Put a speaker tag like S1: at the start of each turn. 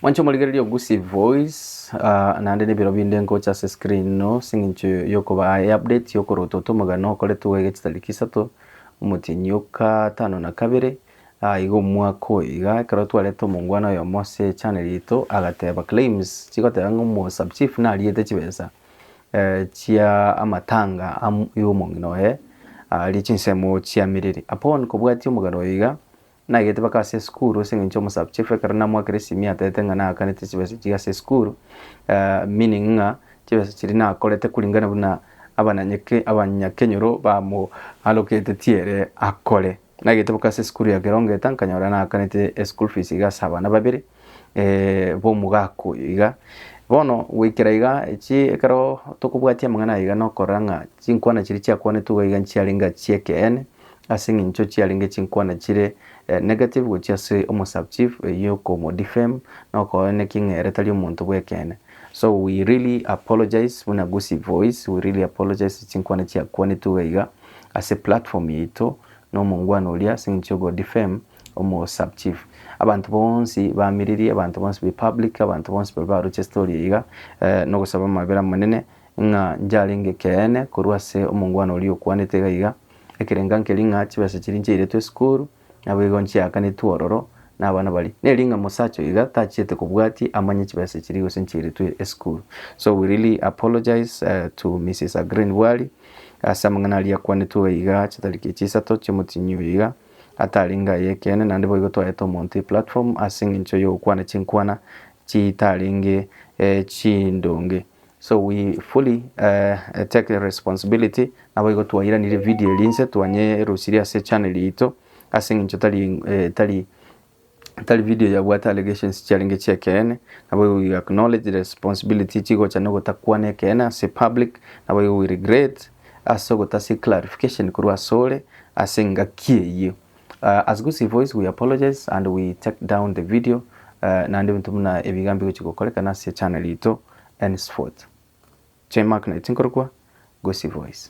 S1: Mwanche omorigereria o Gusii Voice ah, naende nebiro binde nkocha ase screen ino sing'incho yokoba aye update yokorota oto omogano okoretwe goiga chitariki isato omotienyi oka tano na kabere ah, iga omwaka oyo iga ekero twarete omongwana oyomo ase channel yaito agateba claims chigoteba ng'a omo sub chief nariete chibesa eh, chia amatanga am- y'omong'ina oye aria chinsemo chiamerire upon kobwatia omogano oyo iga Naigete baka ase esukuru ase eng'encho omosabuchifu ekero namoakera esimi atebete ng'a naakanete chibesa echi ase esukuru meaning ng'a chibesa chiria nakorete kuringana buna abananyeke abanyakenyoro bamoaloketetie ere akore. Naigete baka ase esukuru ya Kerongeita nkanyora naakanete eschool fees iga ase abana babere. eh, b'omogaka oyo iga. Bono goikera iga echi ekero tokobwatia amang'ana iga nokorora ng'a chinkwana chiria chiakwanetwe iga iga nchiarenge chi'ekeene ase eng'encho chiarenge chinkwana chire eh, negative gochia ase omosachief eywo okomodefame na okooneki ng'a ere tari omonto bw'ekeene. So we really apologise buna Gusii Voice, we really apologise chinkwana chiakwanetwe iga iga ase platform yaito na omongwana oria ase eng'encho ya ogodefame Omo sub chief. Abanto bonsi bamiririe, abanto bonsi be public, abanto bonsi babe baroche story eye iga, eh, nogosaba amabera amanene, ng'a njarenge ekeene korwa ase omongwana oria okwanete iga iga, ekerenga nkeri ng'a chibesa chiria nchairetwe esukuru, naboigo nchiakanetwe ororo na abana baria. Neri ng'a mosacha oyo iga tachiete kobwatia amanye chibesa chiria gose nchairetwe esukuru. So we really apologise eh, to Mrs. Aggrey Nduari, ase amang'ana aria akwanetwe iga iga chitariki echi isato chi'omotienyi oyo iga, Atari inga y'ekeene, naende boigo twaete omonto eplatform ase engencho y'ogokwana chinkwana chitarenge chindonge. So we fully take responsibility naboigo twairaneire video eria inse twanyerusirie ase channel yaito ase engencho tari tari Tari video yabwate allegations chiarenge chi'ekeene, naboigo we acknowledge the responsibility chigocha nogotakwana ekeene ase public, naboigo we regret ase ogotasia clarification korwa asore ase engaki eyio. Uh, as Gusii Voice we apologize and we take down the video uh, naende ebinto buna ebi iga mbigochi gokorekana ase channel ito henceforth. J Mark Knight nkorokwa Gusii Voice.